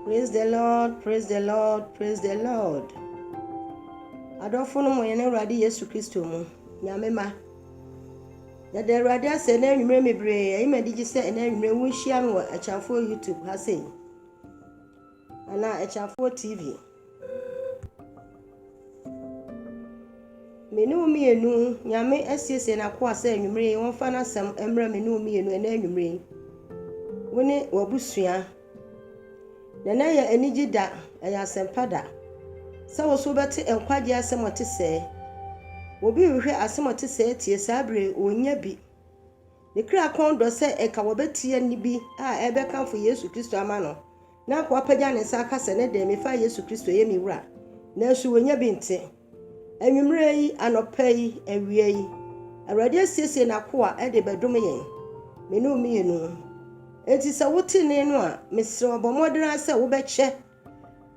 Praise the Lord, praise the Lord, praise the Lord. Adɔfo no mo yɛn Awurade Yesu Kristo mu, Nyame ma. Yɛda Awurade ase ɛna anwummerɛ mebree, ɛyi ma digye sɛ ɛna anwummerɛ wonhyia me wɔ Akyafoɔ YouTube ha sei, anaa Akyafoɔ TV. Me ne wo mmienu, Nyame asiesie n'akoa sɛ anwummere yi wɔmfa n'asɛm mmra me ne wo mmienu ɛnɛ anwummere yi. Wo ne w'abusua. Na ɛnɛ yɛ anigye da, ɛyɛ asɛmpa da. Sɛ wo so wobɛte nkwagye asɛm ɔte sɛɛ. Obi rehwɛ asɛm ɔte sɛɛ tie saa bere ɔnnya bi. Ne kra kɔn dɔ sɛ ɛka wɔbɛteɛ nne bi a ɛbɛkamfo Yesu Kristo ama no. Na akoa pagya ne nsa aka sɛ, Ne de, mefa Yesu Kristo yɛ me wura, nanso wanya bi nte. Anwummere yi, anɔpa yi, awia yi, Awurade asiesie n'akoa de bɛdome yɛn, me ne wo mmienu. Enti sɛ wote nne no a, mesrɛ wo, bɔ mmɔden ara sɛ wobɛkyɛ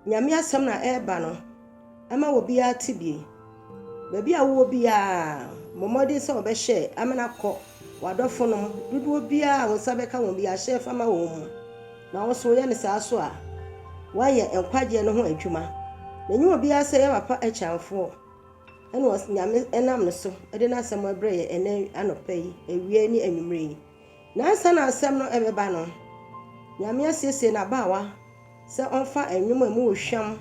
Nyame asɛm no a ɛreba no. Ɛma obiara tebea. Baabi a wowɔ biara, bɔ mmɔden sɛ wɔbɛhyɛ amena kɔ w'adɔfonom dodoɔ biara a wo nsa bɛka wɔn biara hyɛ fa ma wɔn mu, na wo nso woyɛ no saa so a, woayɛ nkwagyeɛ no ho adwuma. Na ɛnyɛ obiara sɛ yɛ papa akyɛmfoɔ na Nyame nam ne so de n'asɛm rebrɛ yɛn ɛnnɛ anɔpa yi, awia yi ne anwummerɛ yi. Na ansa na asɛm no rebɛba no, Nyame asiesie n'abaawa sɛ ɔmfa nnwom a emu wɔ hwam,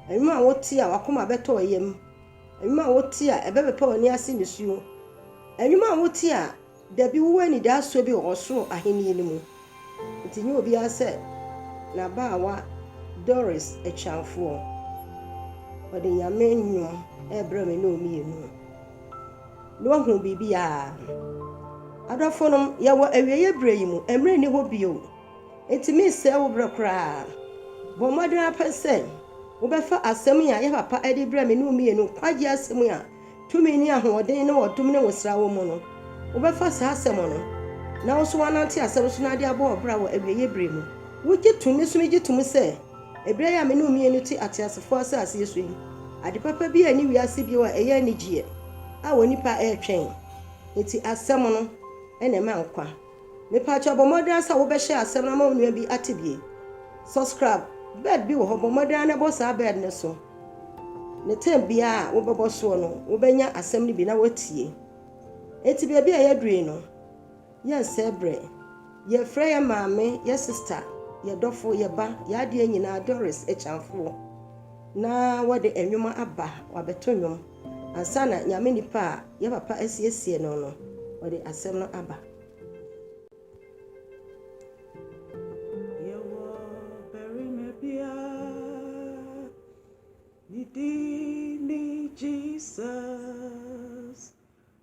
nnwom a wotie a w'akoma bɛtɔ yam, nnwom a wotie a ɛbɛpepa w'ani ase nisuo, nnwom a wotie a dabi wowɔ anidasoɔ bi wɔ ɔsoro ahennie no mu. Nti nyɛ obiara sɛ n'abaawa Doris Akyiamfoɔ. Ɔde Nyame nnwom rebrɛ me ne wo mmienu. Na wahu biribiara. Adɔfonom, yɛwɔ awieeɛ berɛ yi mu. Mmerɛ nni hɔ bio. Enti meresɛe wo berɛ koraa. Bɔ mmɔden ara pɛ sɛ wobɛfa asɛm yi a yɛn papa de brɛɛ me ne wo mmienu, nkwagyeɛ asɛm yi a tumi ne ahoɔden ne ɔdom ne nwosra wɔ mu no, wobɛfa saa asɛm no na wo nso woanante asɛm so na ade abɔ wo bra wɔ awieeɛ berɛ mu. Wogye tom? Me nso megye tom sɛ. Bere a me ne wo mmienu te ateasefo asase so yi, ade papa bi nni wiase bio a ɛyɛ anigye a onipa retwɛn. Enti asɛm no na ɛma nkwa. Mepa kyɛw bɔ mmɔden ara sɛ wobɛ share asɛm no ama wo nua bi ate bi. Subscribe bed bi wɔ hɔ, bɔ mmɔden ara na bɔ saa bed no so. Ne term biara a wobɛ bɔ soɔ no, wobɛ nya asɛm no bi na woatie. Enti baabi a yɛaduru yi no, Yɛnsɛɛ berɛ. Yɛfrɛ yɛn maame, yɛn sista, yɛn dɔfo, yɛn ba, yɛn adeɛ nyinaa Doris Akyamfoɔ na wɔde nnwom aba, wɔabɛto nnwom ansa na Nyame nipa a yɛn papa asiesie no no ɔde asɛm no aba. Yɛwɔ barima bi a ne din ne Jesus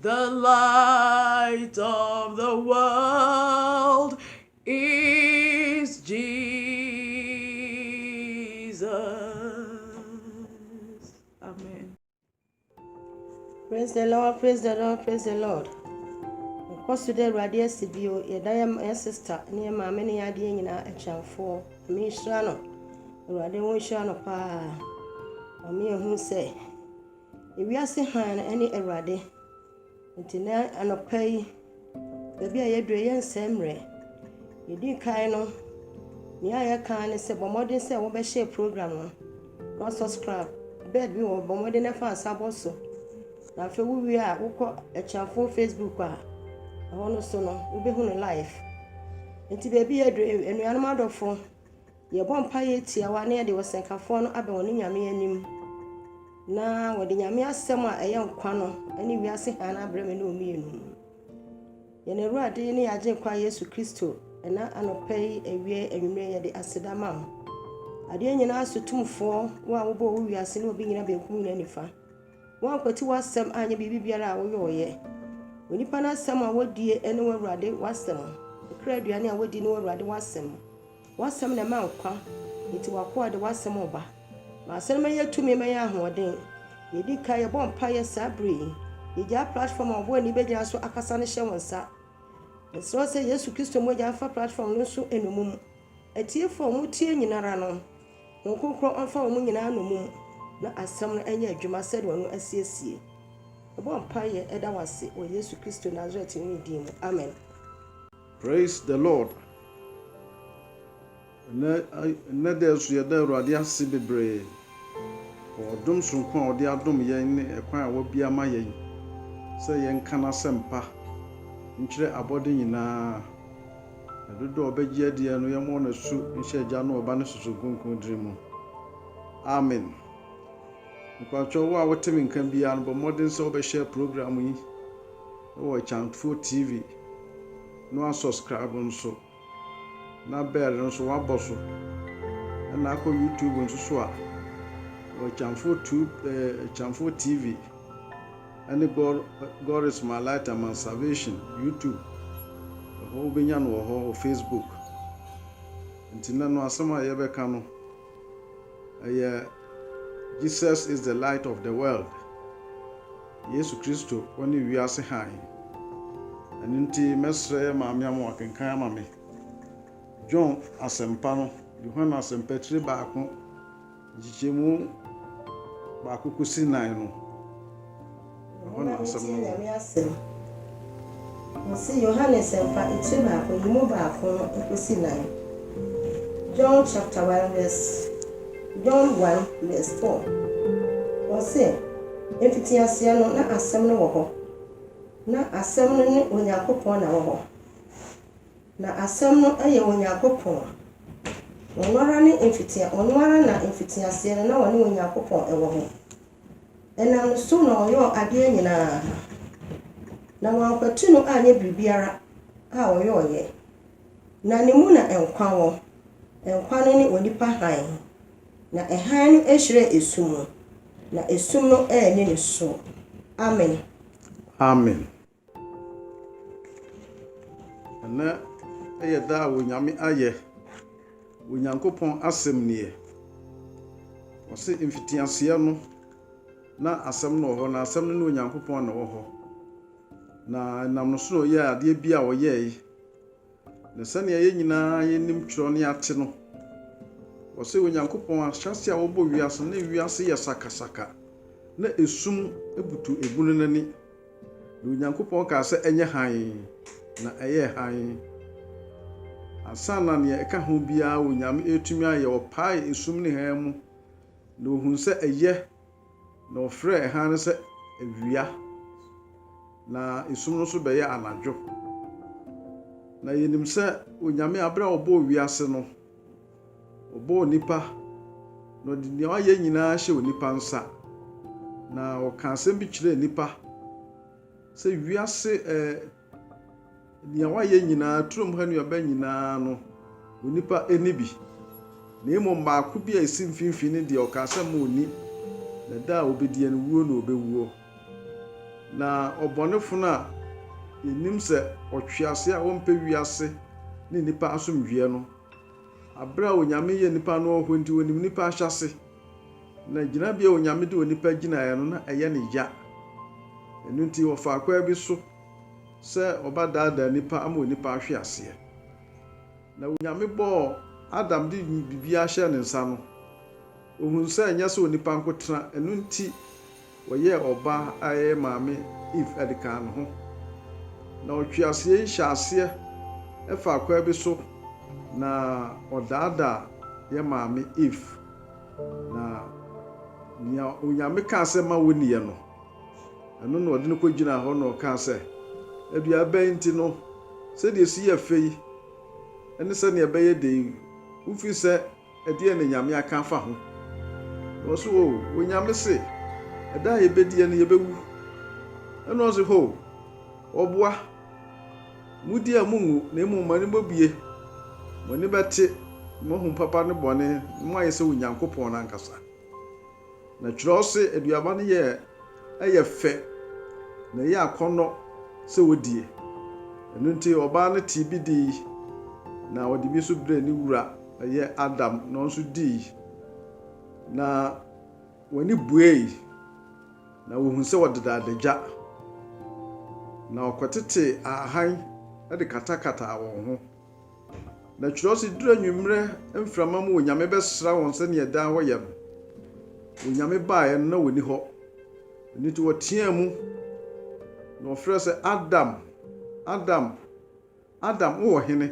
The light of the world is Jesus. Amen. Praise the Lord, praise the Lord, praise the Lord. Nkɔ so dɛ Awurade asi bio, yɛda yɛ yɛ sista ne yɛ maame ne yɛ adeɛ nyinaa akyɛnfoɔ. Ame nhyira no, Awurade wo nhyira no paa. Ame ehu sɛ Ewiase hann ne Awurade. Nti nnɛ anɔpa yi, baabi a yɛadu yi, yɛnsɛe mmerɛ. Deɛ ɛdi kan no, nea yɛka ara ne sɛ bɔ mmɔden sɛ wobɛhyɛ program no na subscribe. Bed bi wɔ bɔ mmɔden na fa nsa bɔ so. Na afei wowie a wokɔ Akyinafo Facebook a ɛhɔ no so no wobɛhu no live. Nti baabi yɛadu, anuanom adɔfo, Yɛbɔ mpaeɛ tiawa na yɛde ɔsɛnkafoɔ no abɛn wɔne Nyame anim na wɔde Nyame asɛm a ɛyɛ nkwa no ne wiase hann abrɛ me ne wo mmienu. Yɛn Awurade ne Agyenkwa Yesu Kristo, ɛna anɔpa yi awie anwummerɛ yɛde aseda ma wo. Adeɛ nyinaa so tumfoɔ, wo a wobɔɔ wo wiase ne obi nyina benkum nyina nifa. Woankwati w'asɛm anyɛ biribi biara a woyɔɔyɛ. Onipa no asɛm a wɔdie ne w'Awurade w'asɛm. Kra aduane a wɔdi ne w'Awurade w'asɛm. W'asɛm na ɛma nkwa, enti w'akoa de w'asɛm reba. Ma asɛm no mmɛyɛ tumi ma yɛn ahoɔden. Yɛdi kan, yɛbɔ mpaeɛ saa berɛ yi. Yɛgyaa platform a ɔbɔ ani bɛgyina so akasa no hyɛ wo nsa. Yɛsrɛ wo sɛ Yesu Kristo mogya mfa platform no nso nnommum. Atiefoɔ a wɔtie nyina ara no, Honhom Kronkron ɔmfa wɔn nyinaa nnommum na asɛm no nyɛ adwuma sɛdeɛ ɔno asiesie. Yɛbɔ mpaeɛ da wo ase wɔ Yesu Kristo Nasaretni din mu, amen. Praise the Lord Ɛnɛ ɛnɛ dɛ nso yɛda Awurade ase bebree wɔ ɔdom soronko a ɔde adom yɛn ne ɛkwan a wabue ama yɛn sɛ yɛnka n'asɛmpa nkyerɛ abɔde nyinaa. Na dodoɔ a ɔbɛgye adiɛ no yɛmmɔ no asu nhyɛ Agya no Ɔba no Susu Kronkron din mu. Amen. Mepakyɛw wo a wote me nka biara no bɔ mmɔden sɛ wobɛhyɛ program yi wɔ Akyangfoɔ TV no a subscribe nso na bell nso wabɔ so ɛna akɔ YouTube nso so a wɔ Akyangfoɔ tube eh, Akyangfoɔ TV ɛne God, God is my light and my salvation YouTube ɛhɔ wobɛnya no wɔ hɔ wɔ Facebook nti na no asɛm a yɛbɛka no Ɛyɛ Jesus is the light of the world, Yesu Kristo ɔne wiase hann. Ɛno nti mɛsrɛ Maame ama wakenkan ama me John asɛmpa no, Yohane asɛmpa tiri baako nkyekyɛmu baako kɔsi nan no. Ɛhɔ na nsɛm no wɔ. Wɔse Yohane Nsɛmpa etire baako yi mu baako no ekosi nnan, John chapter one verse John one verse four, wɔse, Mfitiaseɛ no na Asɛm no wɔ hɔ, na Asɛm no ne Onyankopɔn na wɔhɔ, na Asɛm no yɛ Onyankopɔn, ɔno ara ne mfitia, ɔno ara na mfitiaseɛ no na ɔne Onyankopɔn wɔ hɔ. Ɛnam ne so na ɔyɔɔ adeɛ nyina ara, na wɔankwati no anyɛ biribiara a ɔyɔeɛ, na ne mu na nkwa wɔ, nkwa no ne onipa hann, na hann no hyerɛn esum mu, na esum no anni ne soɔ. Amen. Amen. Ɛnnɛ yɛ da a Onyame ayɛ, Onyankopɔn asɛm nie. Ɔse mfitiaseɛ no na asɛm no wɔ hɔ, na asɛm no ne Onyankopɔn na ɛwɔ hɔ. Na ɛnam no so na ɔyɛɛ adeɛ bi a ɔyɛe. Na sɛnea yɛn nyinaa yenim kyerɛw ne ate no, wɔse Onyankopɔn ahyɛase a ɔbɔɔ wiase no, na wiase yɛ sakasaka, na esum butu egu no n'ani. Na Onyankopɔn kaa sɛ, Ɛnyɛ hann, na ɛyɛɛ hann. Ansa na nea ɛka ho biara Onyame retumi ayɛ, ɔpaee esum ne hann mu, na ohuu sɛ ɛyɛ. Na ɔfrɛɛ hann no sɛ Awia, na esum no nso bɛyɛɛ Anadwo. Na yɛnim sɛ Onyame a berɛ a ɔbɔɔ wiase no, ɔbɔɔ onipa, na ɔde deɛ wayɛ nyinaa hyɛɛ onipa nsa. Na ɔkaa asɛm bi kyerɛɛ nnipa sɛ wiase ɛɛ. Nea wɔayɛ nyinaa, turom ha nnuaba nyinaa no, onipa nni bi, na mmom baako bi a esi mfimfini ne deɛ ɔkaa sɛ mma ɔnni, na da a obediɛ no, wuo na ɔbɛwuo. Na ɔbɔnefo no a yɛnim sɛ ɔtweaseɛ a ɔmpɛ wiase ne nnipa asomdwoeɛ no, bere a Onyame yɛ nnipa no wɔ hɔ nti, ɔnim nnipa ahyɛase. Na gyinabea a Onyame de onipa gyinaeɛ no, na ɛyɛ no ya. Ɛno nti, wɔfaa kwan bi so sɛ wɔbɛdaadaa nipa ama onipa ahwe aseɛ. Na Onyame bɔɔ Adam de biribiara hyɛɛ ne nsa no, ɔhunu sɛ ɛnyɛ sɛ onipa nko tena, ɛno nti Wɔyɛɛ ɔbaa a ɛyɛ Maame Eve ade kaa ne ho, na ɔtweaseɛ yi hyɛɛ aseɛ faa kwan bi so na ɔdaadaa yɛ Maame Eve, na nea Onyame kaa sɛ ma wonniɛ no, ɛno na ɔde no kɔgyinaa hɔ na ɔkaa sɛ, Adua bɛn nti no, sɛdeɛ ɛsi yɛ fɛ yi ne sɛdeɛ ɛbɛyɛ den yi, wofiri sɛ, Ɛdeɛn na Nyame aka afa ho? Na ɔse hoo, Onyame se, Ɛda a yɛbɛdiɛ no yɛbɛwu. Ɛna ɔse hoo, Ɔboa, modi a monnwu, na mmom moani bɛbue, moani bɛte, na moahu papa ne bɔne, na moayɛ sɛ Onyankopɔn no ankasa. Na kyerɛ wo se aduaba no yɛ ɛyɛ fɛ na ɛyɛ akɔnnɔ sɛ wɔdie. Ɛno nti ɔbaa no tee bi dii na ɔde bi nso brɛɛ ne wura, ɛyɛ Adam, na ɔno nso dii. Na wɔn ani buei na wɔhuu sɛ wɔdeda adagya, na wɔkɔtetee ahan de katakataa wɔn ho. Na kyerɛw se, Duru anwummere mframa mu onyame bɛsra wɔn sɛnea daa wɔyɛ no. Onyame baeɛ no, na wɔnni hɔ. Ɛno nti wɔteaa mu, na wɔfrɛɛ sɛ, Adam! Adam! Adam! Wowɔ hene?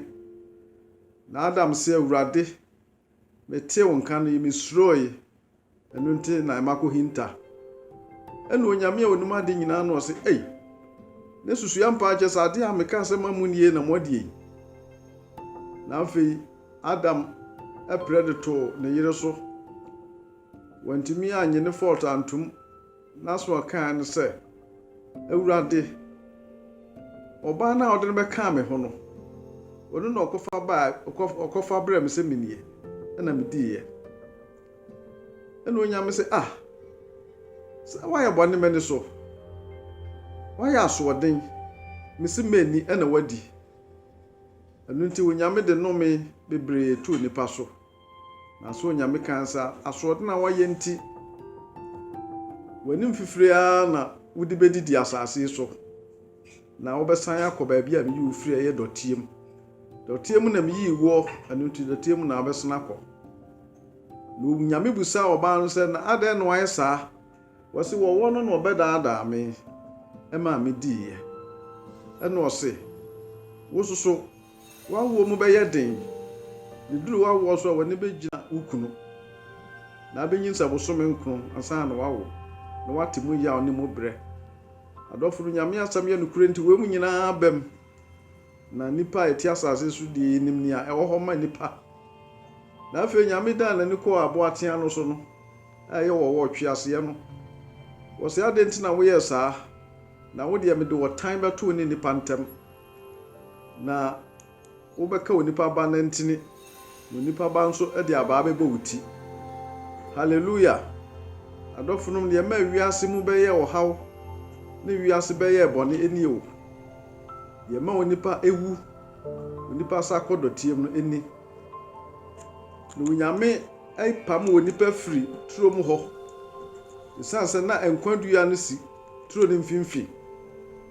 Na Adam se, Awurade, metee wo nka no, mesurooe, Ɛno nti na ɛma kohinta. Ɛna Onyame a onim ade nyinaa no ɔse, Ei, ne susua mpaa kyɛ sɛ ade a mekaa sɛ ma munni ei na moadi ei. Na afei Adam ɛprɛ de too ne yere so. Wantumi annye ne fault antom, n'aso a ɔkaeɛ ne sɛ, Awurade, ɔbaa no a wode no bɛkaa me ho no, ɔno na ɔkɔfa bae, ɔkɔfa brɛɛ me sɛ mennie, ɛna mediiɛ. ɛna onyame sɛ ah sɛ woayɛ bɔne m'ani so woayɛ asoɔden mese m'ani ɛna wadi ɛno nti onyame de nome bebree too nipa so nanso onyame kan sa asoɔden a woayɛ nti w'anim fifiri ara na wode bɛdidi asase so Na wobɛsan akɔ baabi a meyii wo firi a ɛyɛ dɔteɛ mu. Dɔteɛ mu na meyii woɔ, ɛno nti dɔteɛ mu na wobɛsan akɔ. Na Onyame busaa ɔbaa no sɛ, Na adɛn na wayɛ saa? Wɔse, Wɔwɔ no na ɔbɛdaadaa me, ɛmaa mediiɛ. Ɛna ɔse, Wo nso so, w'awoɔ mu bɛyɛ den, na ɛduru w'awoɔ so a, w'ani bɛgyina wo kunu, na abɛnyinsɛn bosome nkron ansa na wawo, na woate mu yaw ne mu berɛ. Adɔfo no, Nyame asɛm yɛ nokorɛ nti wei mu nyinaa abam, na nnipa a ɛte asase so deɛ yɛnim nea ɛwɔ hɔ ma nnipa. Na afei Nyame dan n'ani kɔɔ aboatea no so no, a ɛyɛ wɔ ɔtweaseɛ no, wɔ sɛ, Adɛn nti na woyɛɛ saa? Na wo deɛ mede ɔtan bɛto wo ne nnipa ntam, na. Wobɛka onipa Ba no ntini, na onipa Ba nso de abaa bɛbɔ wo ti. Haleluya! Adɔfonom, nea ɛmaa wiase mu bɛyɛɛ ɔhaw ne wiase bɛyɛɛ bɔne ni o. Deɛ ɛma onipa wu, onipa sa kɔ dɔteɛm no ni. Na Onyame pam onipa firi turom hɔ, ɛsiane sɛ na nkwa dua no si Turo no mfimfini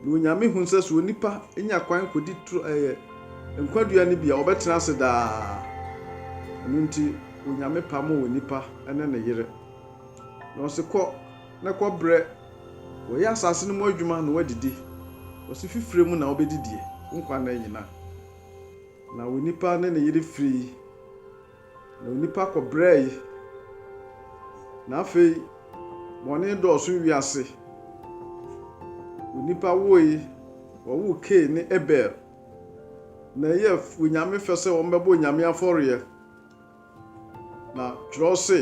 na Onyame hu sɛ sɛ onipa nya kwan kɔdi turo ɛyɛ nkwa dua no bi a ɔbɛtena ase daa. Ɛno nti Onyame pamoo onipa ne ne yere na ɔse kɔ na kɔ brɛ wɔyɛ asase no mu adwuma na wɔadidi. Ɔse fi frɛ mu na wobɛdidie wo nkwa nna nyina. Na onipa ne ne yere firii. Na onipa kɔbrɛe, na afei bɔne dɔɔso wiase. Onipa woe, wɔwoo Kain ne Abel, na ɛyɛɛ Onyame fɛ sɛ wɔbɛbɔ Onyame afɔreɛ. Na twerɛw se,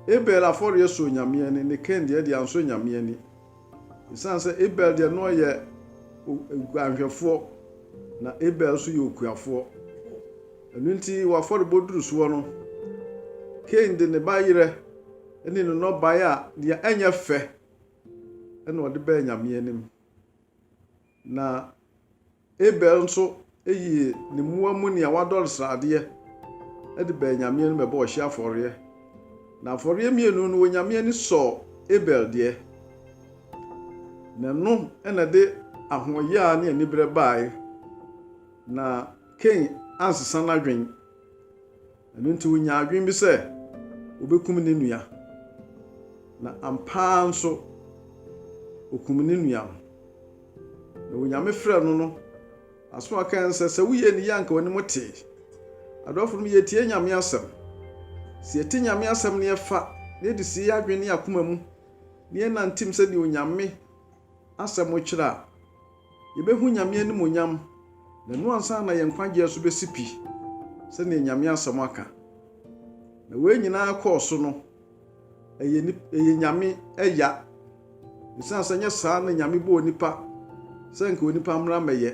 Abel afɔreɛ sɔɔ Nyame ani, ne Kain deɛ de ansɔ Nyame ani. Esiane sɛ Abel deɛ na ɔyɛ guanhwɛfoɔ na Abel nso yɛ okuafoɔ, ɛno nti wɔ afɔrebɔ duru soɔ no, Kain de ne ba yerɛ ne ne nnɔbaeɛ a deɛ ɛnyɛ fɛ na ɔde bɛɛ Nyame anim. Na Abel nso yii ne mmoa mu nea wadɔre sradeɛ de baa Nyame anim bɛbɔɔ ɔhyeɛ afɔreɛ. Na afɔreɛ mmienu no, Onyame ani sɔɔ Abel deɛ, na ɛno na ɛde ahoɔyaa ne aniberɛ baae, na Kain ansesa n'adwene. Ɛno nti onyaa adwene bi sɛ obekum ne nua, na ampa ara nso okum ne nua no. Na wɔ Nyame frɛ no no, asɛm a ɔkae ne sɛ, sɛ woyɛ ne yie a anka w'anim tee. Adɔfo nom, yɛtie Nyame asɛm. Sɛ yɛte Nyame asɛm na yɛfa na yɛde sie yɛn adwene ne yɛn akoma mu na yɛnantim sɛdeɛ Onyame asɛm kyerɛ a, Yɛbɛhu Nyame animuonyam, na ɛno ansa na yɛn nkwagyeɛ nso bɛsi pi, sɛdeɛ Nyame asɛm aka. Na wei nyinaa kɔɔ so no, ɛyɛ, ɛyɛ Nyame ɛya, ɛsiane sɛ nyɛ saa na Nyame bɔɔ onipa sɛ nka onipa mmra mmɛyɛ.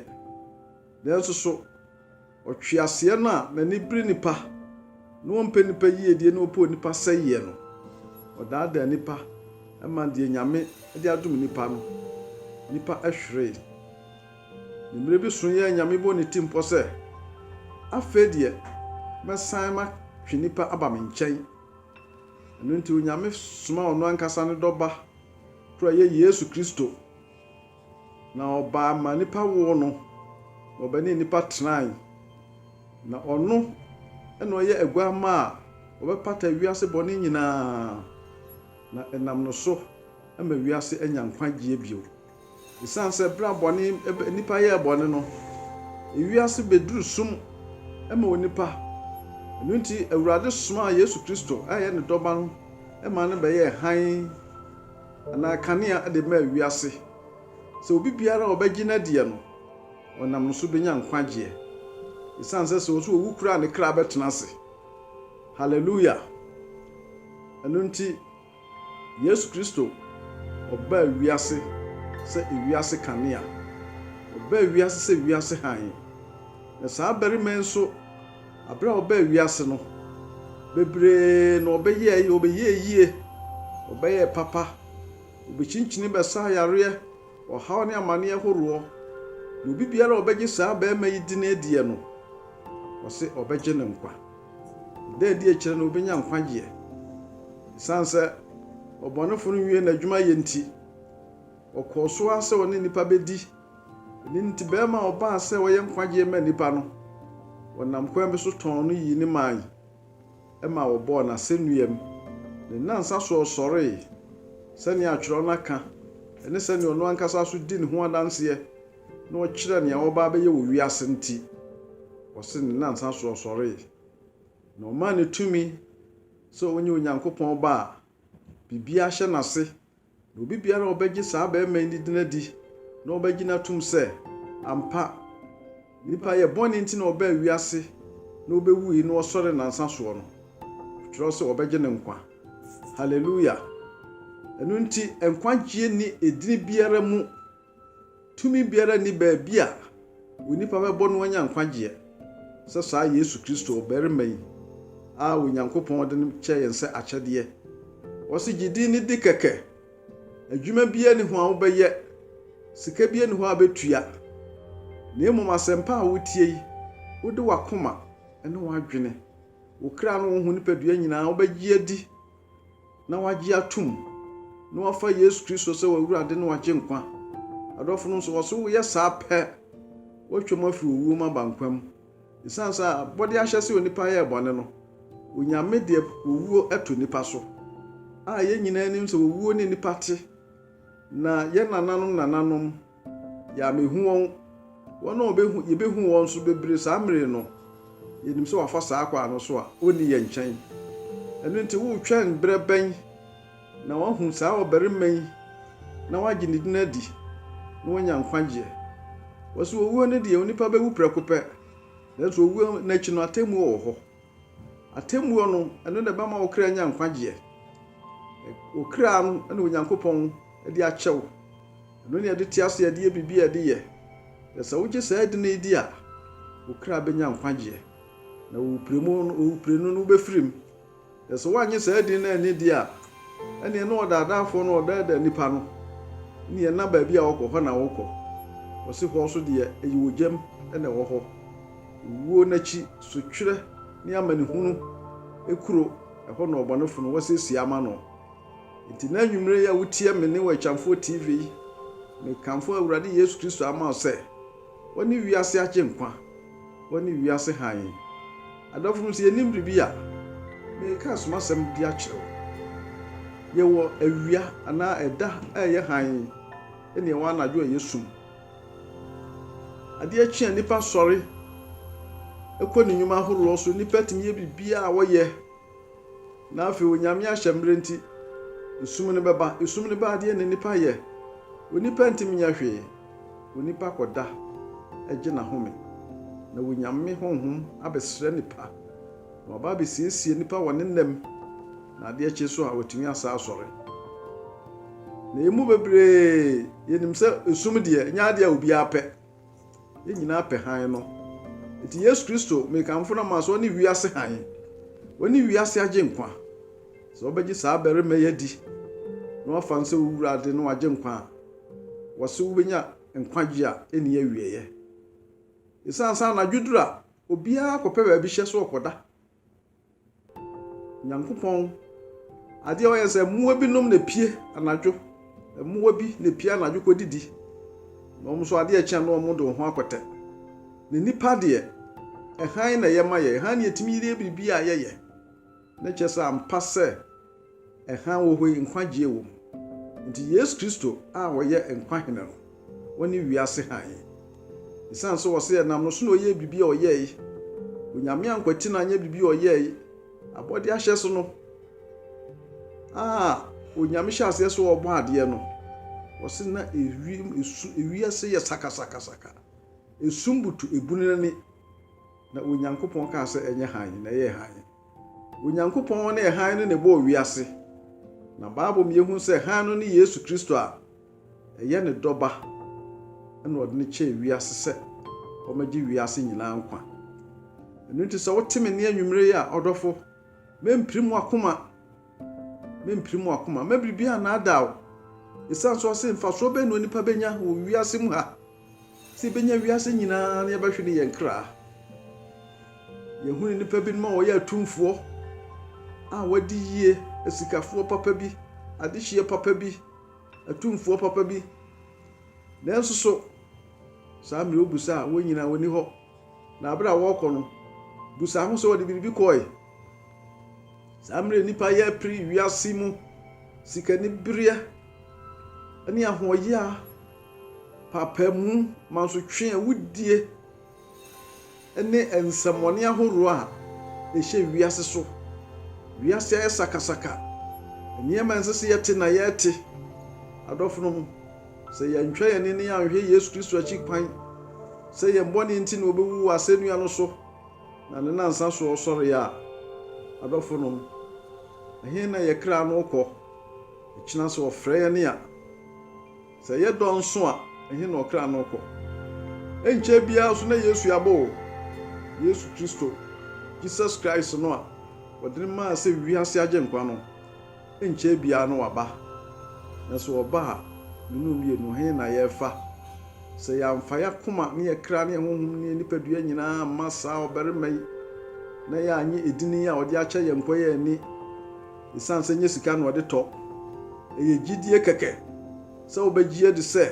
Nanso so. Ɔtweaseɛ no a n'ani bere nnipa na ɔmpɛ nnipa yiedie na ɔpɛ onipa sɛeɛ no, ɔdaadaa nnipa ma deɛ Nyame de adom nnipa no, nnipa hweree. Ne mmerɛ bi so yɛɛ Nyame bɔɔ ne ti mpɔ sɛ, Afei deɛ mɛsan matwe nnipa aba me nkyɛn. Ɛno nti Onyame somaa Ɔno ankasa ne Dɔ Ba koro a ɛyɛ Yesu Kristo. Na ɔbaa ma nnipa woo no, na ɔbɛne nnipa tenae. Na ɔno na ɔyɛ aguamma a ɔbɛpata wiase bɔne nyinaa, na ɛnam no so ama wiase anya nkwagyeɛ bio. Esiane sɛ berɛ a bɔne, nnipa yɛɛ bɔne no, wiase bɛduru sum ma onipa, ɛno nti Awurade somaa Yesu Kristo a ɔyɛ ne Dɔba no maa no bɛyɛɛ hann, anaa kanea de maa wiase, sɛ obi biara a ɔbɛgye no adiɛ no, ɔnam no so bɛnya nkwagyeɛ, ɛsiane sɛ sɛ ɔso ɔwu koraa a ne kra bɛtena ase. Hallelujah! Ɛno nti, Yesu Kristo, ɔbaa wiase sɛ wiase kanea. Ɔbaa wiase sɛ wiase hann. Na saa barima yi nso, Aber a ɔbaa wiase no, beberee na ɔbɛyɛe, ɔbɛyɛɛ yie, ɔbɛyɛɛ papa, obekyinkyin bɛsaa yareɛ, ɔhaw ne amaneɛ horoɔ, na obi biara a ɔbɛgye saa barima yi din adiɛ no, ɔse ɔbɛgye ne nkwa. Ɛda adi akyire no obenya nkwagyeɛ. Esiane sɛ ɔbɔnefo no nwie n'adwuma yɛ nti, ɔkɔɔ so ara sɛ ɔne nnipa bedi Ɛno nti barima a ɔbaa sɛ ɔyɛ nkwagyeɛ ma nnipa no, wɔnam kwan bi so tɔn no yii ne mae ma wɔbɔɔ no asɛnnua mu. Ne nnansa so ɔsɔree, sɛdeɛ atwerɛ no aka, ɛne sɛdeɛ ɔno ankasa nso dii ne ho adanseɛ na ɔkyerɛɛ nea ɔreba abɛyɛ wɔ wiase nti, wɔse ne nnansa so ɔsɔree. Na ɔmaa no tumi sɛ ɔnyɛ Onyankopɔn ba a biribiara hyɛ n'ase Na obi biara a ɔbɛgye saa barima yi ne din adi na ɔbɛgye no atom sɛ ampa nipa yɛ bɔne nti na ɔbaa wiase na ɔbɛwui na ɔsɔre nansa soɔ no, ɔtwerɛ sɛ ɔbɛgye ne nkwa. Hallelujah! Ɛno nti nkwagyeɛ ni edini biara mu Tumi biara nni baabi a onipa bɛbɔ no anya nkwagyeɛ sɛ saa Yesu Kristo ɔbarima yi a Onyankopɔn de no kyɛɛ yɛn sɛ akyɛdeɛ. Wɔse gye din no di kɛkɛ. Adwuma biara ni hɔ a wobɛyɛ, sika biara ni hɔ a bɛtua, na mmom asɛmpa a wotie yi, wode w'akoma ne w'adwene, wo kra ne wo ho nipadua nyinaa wobɛgye adi na wɔagye atom, na wɔafa Yesu Kristo sɛ wɔn Awurade ne wɔn Agyenkwa. Adɔfo no nso, wɔso woyɛ saa pɛ, wɔatwa mu afiri owuo mu aba nkwa mu. Esiane sɛ abɔdeɛ ahyɛ sɛ onipa yɛɛ bɔne no, Onyame deɛ owuo to nnipa so. A yɛn nyinaa nim sɛ owuo ne nnipa te, na yɛn nananom nananom, Yɛ a mehu wɔn, wɔn a wɔbɛhu, yɛbɛhu wɔn nso bebree saa mmere no, yɛnim sɛ wɔafa saa kwan no so a wɔnni yɛn nkyɛn. Ɛno nti woretwɛn berɛ bɛn na wɔahu saa ɔbarima yi na wɔagye ne din adi na wɔanya nkwagyeɛ? Wɔse owuo no deɛ, onipa bɛwu prɛko pɛ, nanso owuo no akyi no, atemmuo wɔ hɔ. Atemmuo no, ɛno na ɛbɛma wo kra anya nkwagyeɛ. Wo kra no na Onyankopɔn de akyɛ wo. Ɛno na yɛde te ase, yɛde yɛ biribi a yɛde yɛ. Na sɛ wogye saa edin yi di a, wo kra bɛnya nkwagyeɛ. Na wo prenu no, wo prenu no wobɛfiri mu. Na sɛ woannye saa edin no anni di a, ɛnneɛ na ɔdaadaafoɔ no ɔdaadaa nnipa no, ne ɛnna baabi a ɔkɔ hɔ na wokɔ. Wɔse hɔ nso deɛ ɛyɛ ogyam na ɛwɔ hɔ. Owuo no akyi sotwerɛ ne amanehunu kuro ɛhɔ na ɔbɔnefo no wɔasiesie ama no. Enti nnɛ anwummere yi a wotie me nne wɔ Akyamfoɔ TV yi, mekamfo Awurade Yesu Kristo ama wo sɛ, Ɔne wiase Agyenkwa, Ɔne wiase Hann. Adɔfonom, sɛ yɛnnim biribi a, mereka asomasɛm bi akyerɛ wo. Yɛwɔ awia anaa ɛda a ɛyɛ hann ne yɛwɔ anadwo a ɛyɛ sum. Adeɛ kye a nnipa sɔre kɔ ne nnwuma ahoroɔ so. Nnipa tumi yɛ biribiara a wɔyɛ. Na afei Onyame ahyɛ mmerɛ nti, esum no bɛba. Esum no ba adeɛ na nnipa yɛ. Onipa ntumi nyɛ hwee. Onipa kɔda gye n'ahome. Na Onyame honhom abɛsrɛ nnipa. Na wɔaba abɛsiesie nnipa wɔ ne nna mu, na adeɛ kye nso a, wɔatumi asan asɔre. Na yɛn mu bebree, yɛnim sɛ esum deɛ, ɛnyɛ adeɛ a obiara pɛ. Yɛn nyinaa pɛ hann no. Nti Yesu Kristo, mekamfo no ama sɛ ɔne wiase hann. Ɔne wiase agyenkwa. Sɛ wobɛgye saa barima yi adi, na wafa no sɛ wo Wurade ne w'agyenkwa a, wɔse wobɛnya nkwagye a ɛnni awieeɛ. Ɛsiane sɛ anadwo duru a, obiara kɔpɛ baabi hyɛ so ɔkɔda. Nyankopɔn, adeɛ a ɔyɛ sɛ mmoa binom na epie anadwo, mmoa bi na epie anadwo kɔdidi, na wɔn nso adeɛ kyɛn na wɔn de wɔn ho akɔtɛ. Na nnipa deɛ, hann na ɛyɛ ma yɛn, hann na yɛtumi yɛ biribi a yɛyɛ. Na kyerɛ sɛ ampa sɛ ɛhan wɔ hɔ yi nkwagyeɛ wɔ mu. Nti Yesu Kristo a ɔyɛ nkwa Hene no, ɔne wiase hann. Esiane sɛ ɔse ɛnam no so na ɔyɛɛ biribi a ɔyɛɛe, Onyame ankwati no anyɛ biribi a ɔyɛɛe, abɔdeɛ ahyɛso no a Onyame hyɛɛ aseɛ sɛ ɔrebɔ adeɛ no, ɔse na ewiem esu ewiase yɛ sakasakasaka, esum butu ebunu n'ani. Na Onyankopɔn kaa sɛ, Ɛnyɛ hann, na ɛyɛɛ hann. Onyankopɔn ne hann no na ɛbɔɔ wiase. Na Bible ma yɛhu sɛ hann no ne Yesu Kristo a ɛyɛ ne Dɔ Ba na ɔde no kyɛɛ wiase sɛ ɔmmɛgye wiase nyinaa nkwa. Ɛno nti sɛ wote me nne anwummere yi a, ɔdɔfo, mɛmpire mo akoma. Merempire mo akoma, mma biribiara nnaadaa wo. Esiane so ɔse, Mfasoɔ bɛn na onipa bɛnya wɔ wiase mu ha? Sɛ yɛbɛnya wiase nyinaa na yɛbɛhwe ne yɛn kra. Yɛhunu nnipa binom a wɔyɛ atumfoɔ a wɔadi yie, asikafoɔ papa bi, adehyeɛ papa bi, atumfoɔ papa bi. Nanso so, saa mmerɛ wobu sɛ a wɔn nyinaa wɔnni hɔ. Na bere a wɔrekɔ no, bisa ho sɛ wɔde biribi kɔe. Saa mmere nnipa yɛ pere wiase mu sikanibereɛ ne ahoɔyea, paapaemu, mansotwe, awudie ne nsɛmmɔne ahoroɔ a ɛhyɛ wiase so. Wiase ayɛ sakasaka. Nneɛma a ɛnsɛ sɛ yɛte na yɛte. Adɔfonom. Sɛ yɛantwa yɛn ani anhwɛ Yesu Kristo akyi kwan sɛ yɛn bɔne nti na obewu wɔ asɛnnua no so na ne nnansa so ɔsɔree a, adɔfonom, ɛhe na yɛn kra no rekɔ? Ɛkyena sɛ wɔfrɛ yɛn a, sɛ ɛyɛ dɔn nso a, ɛhe na ɔkra no rekɔ? Ɛnkyɛ biara nso na Yesu aba o! Yesu Kristo, Jesus Christ no a wɔde no maa sɛ wiase Agyenkwa no. Ɛnkyɛɛ biara na waba. Nanso ɔba a, me ne wo mmienu, he na yɛrefa? Sɛ yɛamfa yɛn akoma ne yɛn kra ne yɛn honhom ne yɛn nipadua nyinaa amma saa ɔbarima yi, na yɛannye edin yi a ɔde akyɛ yɛn nkwa yi anni, esiane sɛ ɛnyɛ sika na ɔde tɔ. Ɛyɛ gyidie kɛkɛ sɛ wobɛgye adi sɛ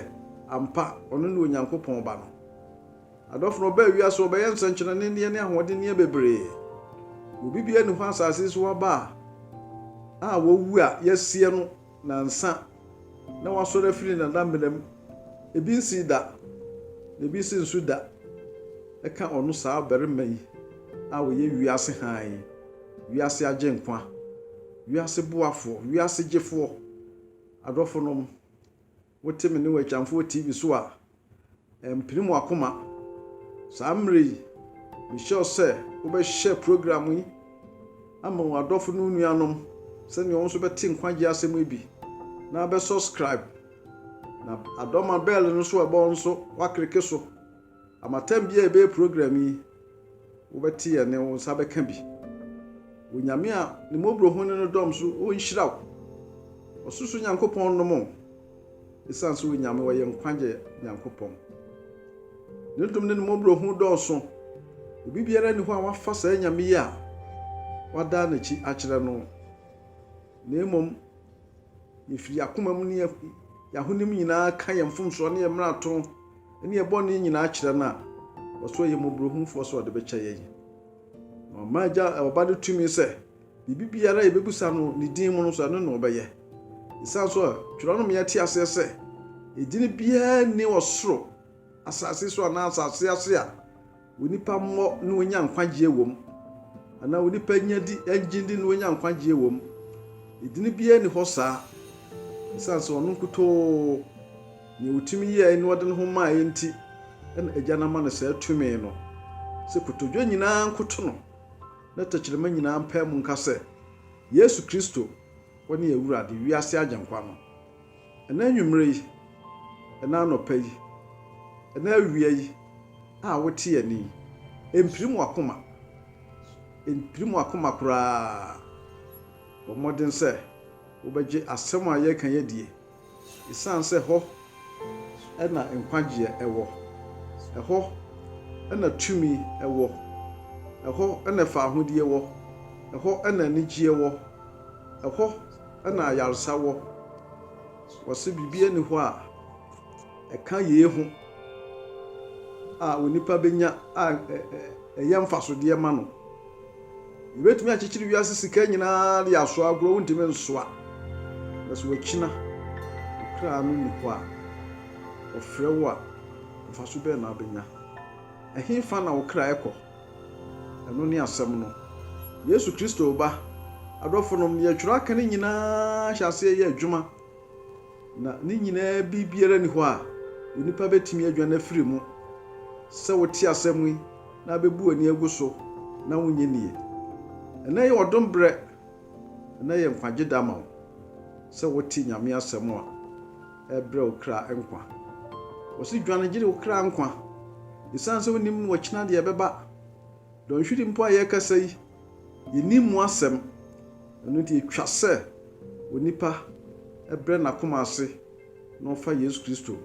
ampa ɔno ne Onyankopɔn Ba no. Adɔfo no ɔbaa wiase hɔ bɛyɛ nsɛnkyerɛnneɛ ne ahoɔdenneɛ bebree. Obi biara nni hɔ asase so aba a a wawu a yɛasie no nansa na wasɔre afiri ne nana mena mu. Ebi nsii da, na ebi nso nsu da. Ɛka ɔno saa ɔbarima yi a ɔyɛ wiase hann, wiase agyenkwa, wiase boafoɔ, wiase gyefoɔ. Adɔfonom. Wote me ne w'agyamfo wɔ TV so a, ɛmpene mu akoma. Saa mmerɛ yi, mehyɛ wo sɛ wobɛhyɛ program yi ama w'adɔfo ne wo nuanom sɛdeɛ wɔn nso bɛte nkwagyeɛ asɛm yi bi na bɛ subscribe. Na adɔma bɛɛl no nso a ɛbɔ nso, woakleke so. Ama tam biara yɛbɛyɛ program yi wobɛte yɛ ne wo nsa bɛka bi wɔ nyame a ne mmɔborɔ ho ne no dɔm so ɔnhyira wo ɔsoso nyankopɔn nom o ɛsiane sɛ onyame ɔyɛ nkwagye nyankopɔn ne dom ne ne mmɔborɔ ho dɔɔso obi biara ni hɔ a wafa saa nyame yi a wadaa n'akyi akyerɛ no na mmom Yefi yɛn akoma mu ne yɛn ahonim nyinaa ka yɛn mfomsoɔ ne yɛn mmarato ne yɛn bɔne nyinaa kyerɛ no a, ɔso yɛ mmɔborɔhunufoɔ sɛ ɔde bɛkyɛ yɛn. Na ɔma agya ɔba no tumi sɛ biribi biara a yɛbɛbisa no ne din mu no nso ɛno na ɔbɛyɛ. Ɛsiane so a twerɛ no ma yɛte aseɛ sɛ edin biara nni ɔsoro, asase so anaa asase ase a Onipa mmɔ na onya nkwagyeɛ wɔ mu, anaa onipa nya di ɛngye ndi na onya nkwagyeɛ wɔ mu? Edini biara nni hɔ saa, esiane sɛ ɔno nkutoo, nea otumi yɛɛe na ɔde ne ho maeɛ nti na Agya no ama no saa tumi no. Sɛ kotodwe nyinaa nkoto no, na tɛkyerɛma nyinaa mpae mu nka sɛ, Yesu Kristo, wone Awurade, wiase Agyenkwa no. Ɛnnɛ anwummere yi, ɛnnɛ anɔpa yi, ɛnnɛ awia yi a wote yɛne yi, ɛmpirim w'akoma. Ɛmpirim w'akoma koraa. Bɔ mmɔden sɛ wobɛgye asɛm a yɛreka yi adie, ɛsiane sɛ hɔ na nkwagyeɛ wɔ, ɛhɔ na tumi wɔ, ɛhɔ na faahodie wɔ, ɛhɔ na anigyeɛ wɔ, ɛhɔ na ayarsa wɔ. Wɔse biribiara nni hɔ a ɛka yei ho a onipa bɛnya a ɛyɛ mfasodeɛ ma no. Yɛbɛtumi akyekyere wiase sika nyinaa de asoa agorɔ, wontumi nsoa. Na sɛ wakyina kra no nni hɔ a, ɔfrɛ wo a, mfaso bɛn na wobɛnya? Ɛhefa na wo kra kɔ? Ɛno ne Asɛm no, Yesu Kristo Ba. Adɔfonom, nea Twerɛ aka no nyinaa hyɛ aseɛ yɛ adwuma, na ne nyinaa biribiara nni hɔ a onipa bɛtumi adwane afiri mu. Sɛ wote asɛm yi na abɛbu w'ani agu so na wonnye nnie. Ɛnnɛ yɛ ɔdom berɛ, ɛnnɛ yɛ nkwagye da ma wo sɛ wote Nyame Asɛm a Ɛbrɛ wo kra nkwa. Wɔse dwane gyere wo kra nkwa. Esiane sɛ wonnim no ɔkyena deɛ ɛbɛba. Dɔnhwere mpo a yɛrekasa yi, yɛnnim mu asɛm. Ɛno nti ɛtwa sɛ onipa brɛ n'akoma ase na ɔfa Yesu Kristo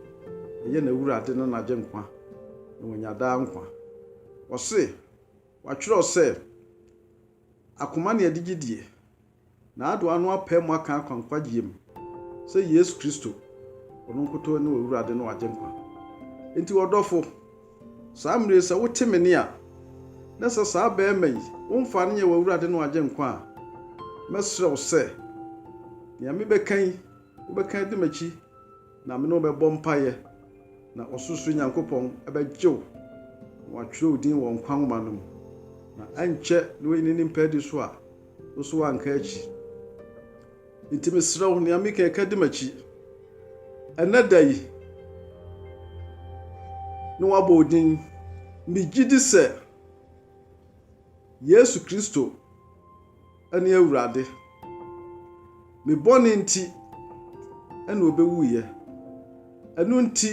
yɛ n'Awurade ne n'Agyenkwa na wanya daa nkwa. Wɔse, wɔatwerɛ sɛ, Akoma ne ɛde gyedie. N'adoa no apae mu aka akwa nkwagyeɛ mu sɛ Yesu Kristo, Ɔno nkutoo ne Ɔwurade ne Ɔagyenkwa. Enti ɔdɔfo, saa mmerɛ yi sɛ wote me nne a, na sɛ saa barima yi womfaa no nyɛ w'Awurade ne w'Agyenkwa a, mɛsrɛ wo sɛ, nea mebɛka yi, wobɛka adi m'akyi na me ne wo bɛbɔ mpaeɛ, na Ɔsorosoro Nyankopɔn bɛgye wo na watwerɛ wo din wɔ nkwa nwoma no mu, na ankyɛ na wayi n'animpaadi so a, nso wanka akyi. Nti mesrɛ wo, nea meka ɛka di m'akyi. Ɛnɛ da yi, ne wabɔ wo din. Megye di sɛ Yesu Kristo ne Awurade. Me bɔne nti na obewuiɛ. Ɛno nti,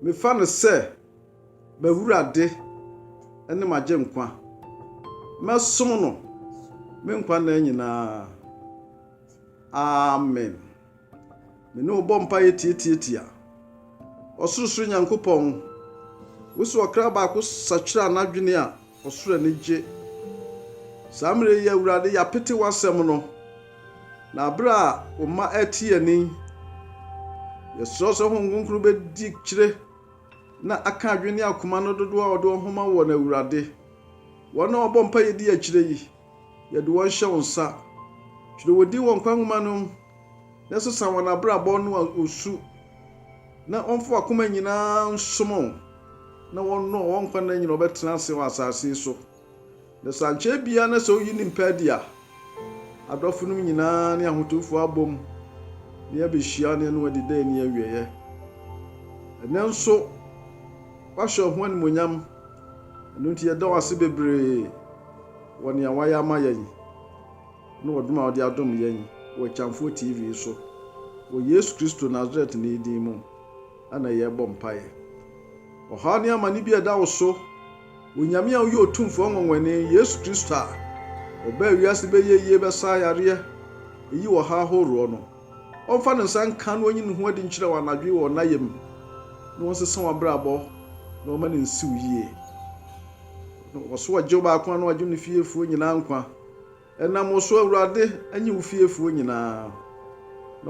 Mefa no sɛ m'Awurade ne m'Agyenkwa, mɛsom no me nkwa nna nyinaa. Amen. Me ne wo bɔ mpaeɛ tiatiatia. Ɔsorosoro Nyankopɔn, wo sɛ ɔkra baako sakyera n'adwene a, Ɔsoro anigye. Saa mmerɛ yi, Awurade, yɛapete w'asɛm no, na berɛ a wo mma rete yɛn ani, yɛsrɛ wo sɛ Honhom Kronkron bɛdi kyire na aka adwene ne akoma no dodoɔ a wɔde wɔn ho ma woɔ no, Awurade. Wɔn a wɔbɔ mpaeɛ di akyire yi, yɛde wɔn hyɛ wo nsa. Twerɛ wɔn din wɔ nkwa nwoma no mu. na sesa wɔn abrabɔ no a wɔsu, na wɔmfa wɔn akoma nyinaa nsom wo, na wɔnnɔ wɔn nkwa nna nyinaa a wɔbɛtena ase wɔ asase yi so. Na sɛ ankyɛ biara na sɛ woyi ne mpa adi a, adɔfo no nyinaa ne ahotewfo abom na yɛabehyia na yɛne wɔn adi daa nni awieɛ. Ɛnnɛ nso, woahyɛ wo ho animuonyam, ɛno nti yɛda wo ase bebree wɔ nea woayɛ ama yɛn. ne ɔdom a ɔde adom yɛn wɔ Akyamfoɔ TV so. Wɔ Yesu Kristo Nasaretni din mu na yɛrebɔ mpaeɛ. Ɔhaw ne amane bi a ɛda wo so, Onyame a woyɛ Otumfoɔ Nwonwani, Yesu Kristo a ɔbaa wiase bɛyɛ yie, bɛsa yareɛ, yi ɔhaw ahoroɔ no, ɔmfa ne nsa nka na ɔnyi ne ho adi nkyerɛ wo anadwo yi wɔ wo nayam na ɔnsesa w'abrabɔ na ɔma no nsi wo yie. Ɔso ɔgye wo baako a na wagye ne fiefoɔ nyinaa nkwa. Ɛnam wo so Awurade nye wo fiefoɔ nyinaa, na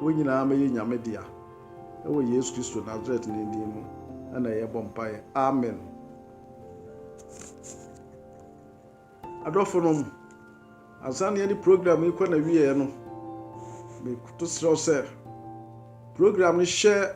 wɔn nyinaa mɛyɛ Nyame dea. Wɔ Yesu Kristo Nasaretni din mu na yɛbɔ mpaeɛ, amen. Adɔfonom, ansa na yɛde program yi kɔ n'awieɛ no, mekoto serɛ wo sɛ program no hyɛ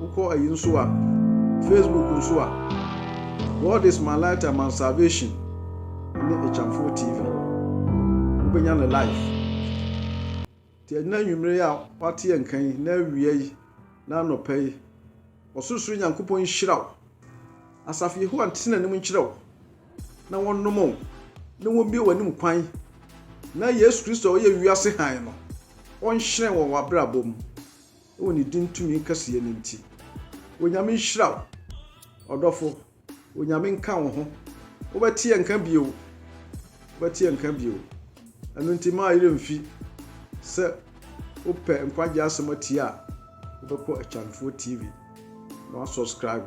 Wokɔ ayi nso a, Facebook nso a, God is my light and my salvation ne Akyamfo TV. Wobɛnya no live. Nti ɛnyɛ anwummere yi a wate yɛn nka yi na awia yi na anɔpa yi, Ɔsorosoro Nyankopɔn nhyira wo. Asafo Yehowa ntena anim nkyerɛ wo. na wɔnnom wo, na wɔmmue w'anom kwan, na Yesu Kristo a ɔyɛ wiase hann no, ɔnhyerɛn wɔ w'abrabɔ mu, wɔ ne din tumi kɛseyɛ no nti. Onyame nhyira wo, ɔdɔfo. Onyame nka wo ho. Wobɛte yɛn nka bio. Wobɛte yɛn nka bio. Ɛno nti, mma ayerɛ mfi sɛ wopɛ nkwagye asɛm atie a, wobɛkɔ Akyanfoɔ TV na wasubscribe.